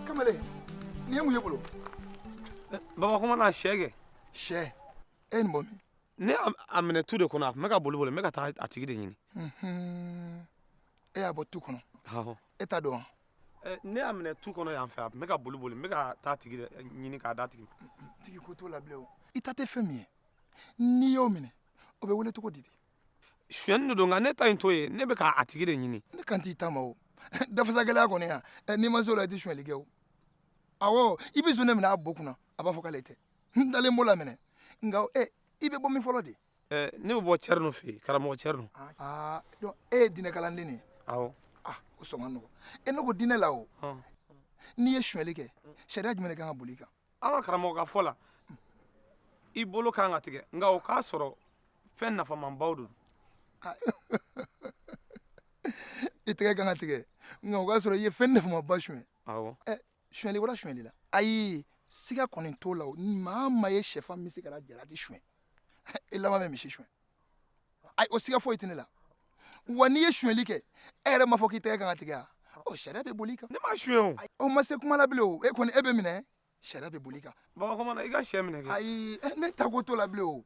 kamalen nin ye mun y'i bolo baba kɔmandan sɛ kɛ sɛ nin bɔ min ne y'a minɛ tu de kɔnɔ a tun bɛ ka boli boli n bɛ ka taa a tigi de ɲini e y'a bɔ tu kɔnɔ e ta don wa ɛ ne y'a minɛ tu kɔnɔ yan fɛ a tun bɛ ka boliboli n bɛ ka taa a tigi de ɲinin k'a d'a tigi ma tigi ko t'o la bilen o i ta tɛ fɛn min ye n'i y'o minɛ o bɛ wele cogo di de sonyani de don nka ne ta in t'o ye ne bɛ k'a tigi de ɲinin ne kan t'i ta ma o dafasagɛlɛya kɔni yan ɛ n'i ma se o la i tɛ sonyali kɛ o awɔ i bɛ zon minɛ a b'a bɔ kun na a b'a fɔ k'ale tɛ n dalen b'o la minɛ nka ɛ i bɛ bɔ min fɔlɔ de ne bɛ bɔ cɛrino fɛ yen karamɔgɔ cɛrino aa donc e ye diinɛ kalanden de ye awɔ ah o sɔn ka nɔgɔ e ne ko diinɛ la o n'i ye suɲɛli kɛ sariya jumɛn de ka kan ka boli i kan an ka karamɔgɔ ka fɔ la i bolo ka kan ka tigɛ nka o k'a sɔrɔ fɛn nafamabaw de don i tɛgɛ ka kan ka tigɛ nka o k'a sɔrɔ i ye fɛn nafamaba suɲɛ awɔ suyɛnli ba tɛ suyɛnli la ayi siga kɔni t'o la maa min ye sɛfan misi ka na jalati suyɛn i laban bɛ misi suyɛn ayi o siga foyi tɛ ne la wa n'i ye suyɛnli kɛ e yɛrɛ m'a fɔ k'i tɛgɛ kan ka tigɛ wa ɔ sariya bɛ boli i kan ne ma suyɛn o o ma se kuma la bilen o e kɔni e bɛ minɛ sariya bɛ boli i kan baba kɔmandan i ka sɛ minɛ kɛ ayi ne ta ko t'o la bilen o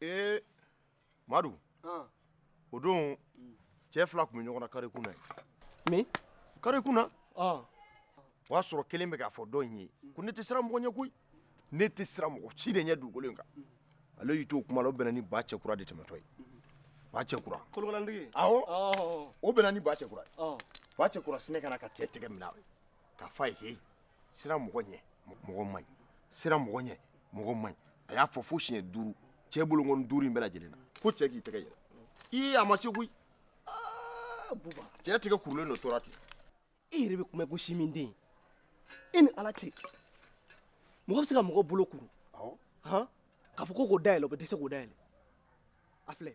ee madu o don cɛ fila tun bɛ ɲɔgɔn na kare kun na yen kare kun na o y'a sɔrɔ kelen bɛ k'a fɔ dɔ in ye ko ne tɛ siran mɔgɔ ɲɛ koyi ne tɛ siran mɔgɔ si de ɲɛ dugukolo in kan ale y'i to o kuma la o bɛnna ni ba cɛkura de tɛmɛtɔ ye ba cɛkura kolokalatigi awɔ o bɛnna ni ba cɛkura ye ba cɛkura sinnen ka na ka cɛ tɛgɛ minɛ a la k'a f'a ye heyi siran mɔgɔ ɲɛ mɔgɔ man ɲi siran mɔgɔ ɲɛ mɔgɔ man ɲi a y'a fɔ fo siyɛn duuru cɛ bolonkɔni duuru in bɛɛ lajɛlen na ko cɛ k'i tɛgɛ yɛlɛ ii a ma se koyi aa buba cɛ tɛgɛ kurulen de tora ten i yɛrɛ bɛ kuma ko siminden i ni ala cɛ mɔgɔ bɛ se ka mɔgɔ bolo kuru han k'a fɔ ko k'o dayɛlɛ o bɛ dɛsɛ k'o dayɛlɛ a filɛ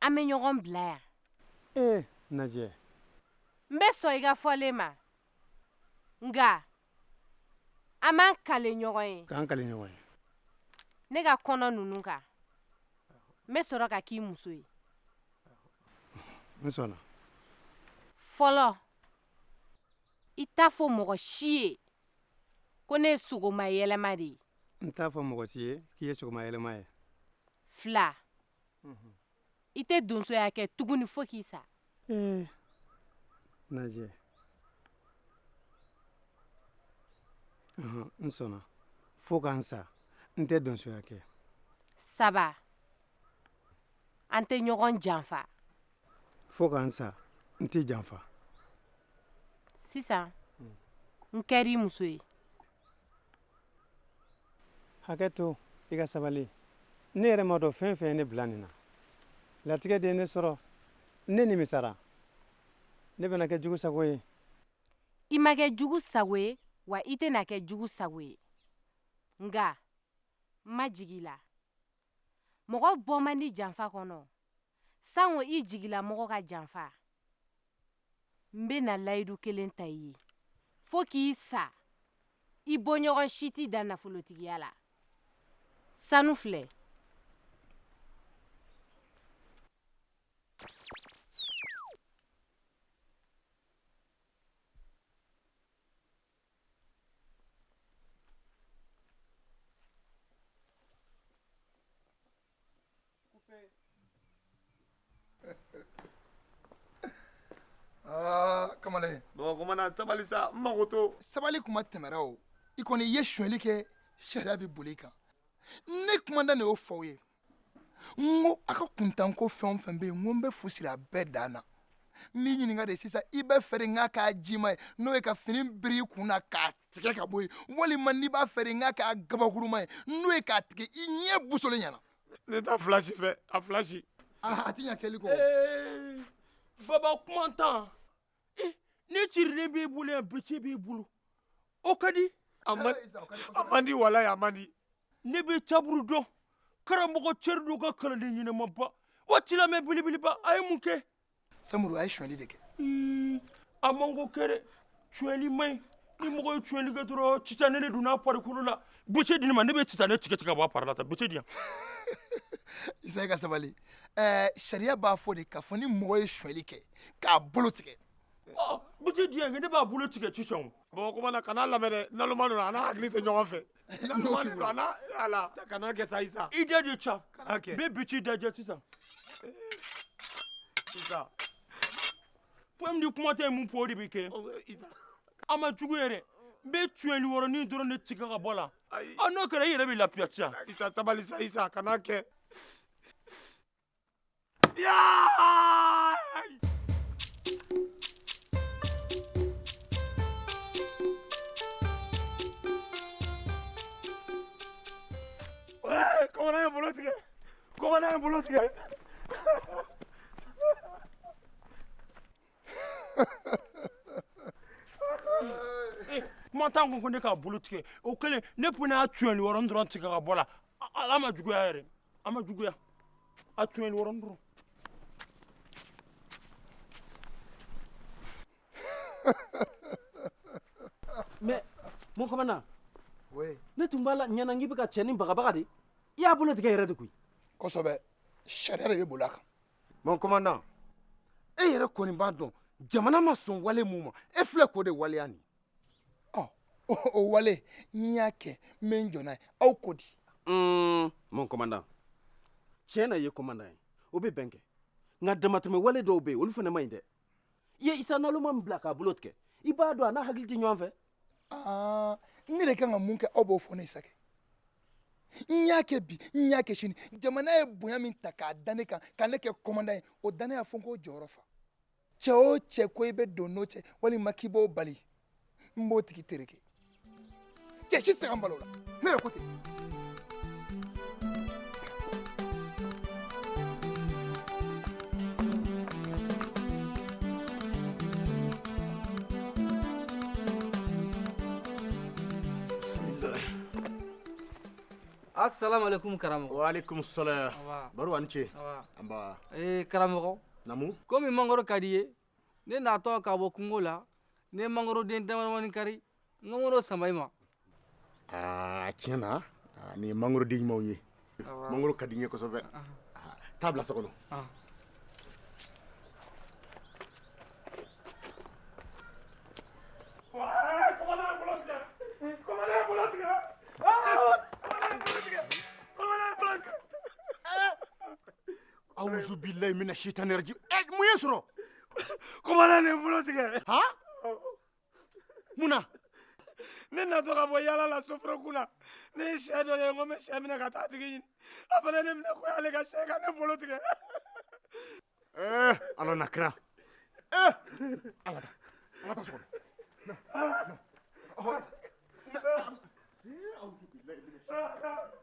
an bɛ ɲɔgɔn bila yan ee n bɛ sɔn i ka fɔlen ma nka an b'an kale ɲɔgɔn ye k'an kale ɲɔgɔn ye ne ka kɔnɔ ninnu kan n bɛ sɔrɔ ka k'i muso ye n sɔnna fɔlɔ i t'a fɔ mɔgɔ si ye ko ne ye sogo mayɛlɛma de ye n t'a fɔ mɔgɔ si ye k'i ye sogo mayɛlɛma ye fila mhm. i tɛ donsoya kɛ tuguni fo k'i sa eh, najɛ n sɔnna fo ka n sa n tɛ donsoya kɛ saba an tɛ ɲɔgɔn janfa fo ka n sa n t'i janfa sisan n kɛra i muso ye hakɛ to i ka sabali ne yɛrɛ m'a dɔn fɛn fɛn ye ne bila nin na latigɛ de ye ne sɔrɔ ne nimisara ne bɛna kɛ jugu sago ye i ma kɛ jugu sago ye wa i tɛna kɛ jugu sago ye nka n ma jigi i la mɔgɔ bɔ man di janfa kɔnɔ Sango i jigilamɔgɔ ka janfa n bɛna layidu kelen ta i ye fo k'i sa i bɔɲɔgɔn si t'i dan nafolotigiya la sanu filɛ Coupé. Aa kamalen bon kumandan sabali sa n makoto sabali kuma tɛmɛra o i kɔni i ye sonyali kɛ sariya bɛ boli i kan ne kumandan de y'o fɔ aw ye n ko a ka kuntanko fɛn o fɛn bɛ yen n ko n bɛ fu siri a bɛɛ dan na n b'i ɲininka de sisan i b'a fɛ de n k'a k'a jima ye n'o ye ka fini biri i kun na k'a tigɛ ka bɔ yen walima n'i b'a fɛ de n k'a k'a gabakuruma ye n'o ye k'a tigɛ i ɲɛ bosolen ɲɛna ne t'a fila si fɛ a fila si aa a ti ɲɛ kɛli kɔ ee baba kumandan ee ni cirilen b'i bolo yan bese b'i bolo o ka di a man a man di walahi a man di ne bɛ caburu dɔn karamɔgɔ cɛridu ka kalanden ɲɛnamaba o silamɛ belebeleba a ye mun kɛ samuru a ye suɲɛni de kɛ ee a ma ko kɛ dɛ suɲɛni man ɲi ni mɔgɔ ye suɲɛni kɛ dɔrɔn sitanɛ de donna a farikolo la bese di ne ma ne bɛ sitanɛ tigɛ-tigɛ ka bɔ a fari la sa bese di yan Isa e ka sabali ɛɛ sariya b'a fɔ de k'a fɔ ni mɔgɔ ye suɲɛni kɛ k'a bolo tigɛ ɔ bese di yan kɛ ne b'a bolo tigɛ sisan o Bon o kumandan kan'a lamɛn dɛ naloma don a n'a hakili tɛ ɲɔgɔn fɛ naloma de don a n'a a la kan'a kɛ sa Isa i da de sa kan'a kɛ be bese dajɛ sisan sisan poème di kuma tɛ mun po de bi kɛ a man jugu yɛrɛ n be suɲɛni yɔrɔnin dɔrɔn de tigɛ ka bɔ i la a n'o kɛra i yɛrɛ bɛ lafiya sisan sabali sa Isa kan'a kɛ Kɔmanda y'a bolo tigɛ kɔmanda y'a bolo tigɛ kuma t'an kun ko ne k'a bolo tigɛ o kɛlen ne bɛn'a tiɲɛli yɔrɔnin dɔrɔn tigɛ ka bɔ a la A- hali a ma juguya yɛrɛ a ma juguya a tiɲɛli yɔrɔnin dɔrɔn mais mon commandant oui ne tun b'a la ɲɛna n k'i bɛ ka cɛ nin bagabaga de i y'a bolo tigɛ yɛrɛ de koyi kosɛbɛ sariya de bɛ boli a kan mon commandant e yɛrɛ kɔni b'a dɔn jamana ma sɔn wale min ma e filɛ k'o de waleya nin o wale n y'a kɛ n bɛ n jɔ n'a ye aw ko di mm, mon commandant tiɲɛ na i ye commandant ye o bɛ bɛn kɛ nka damatɛmɛ wale dɔw bɛ yen olu fana man ɲi dɛ i ye isa naloma min bila k'a bolo tigɛ i b'a dɔn a n'a hakili tɛ ɲɔgɔn fɛ ah, ne de kan ka mun kɛ aw b'o fɔ ne ye sa kɛ n y'a kɛ bi n y'a kɛ sini jamana ye bonya min ta k'a da ne kan ka ne kɛ kɔmanda ye o danaya fo n k'o jɔyɔrɔ fa cɛ o cɛ ko i bɛ don n'o cɛ walima k'i b'o bali n b'o tigi tereke cɛ si tɛ se ka n bali o la ne yɛrɛ ko ten assalamu alaikum karamɔgɔ wa alaikum salam baro a ni ce nba ee karamɔgɔ kɔmi mangoro ka d'i ye ne natɔ ka bɔ kungo la ne ye mangoro den damadamanin kari n ka n'o sama e ma aa tiɲɛ na nin ye mangoro den ɲuman ye mangoro ka di n ye kɔsɔbɛ taa a bila so kɔnɔ awuzu bilayi mina sitani rajim ɛ eh, mun y'i sɔrɔ kɔmanda ye ne bolo tigɛ ha mun na ne natɔ ka bɔ yaala la soforokun na ne ye sɛ dɔ ye n ko n bɛ sɛ minɛ ka taa a tigi ɲini a fana ye ne minɛ k'o y'ale ka sɛ ka ne bolo tigɛ ɛɛ eh, ala n'a kira ɛɛ eh, ala ta ala ta sɔgɔ na na na ɔhɔ na awuzu bilayi mina sitani rajim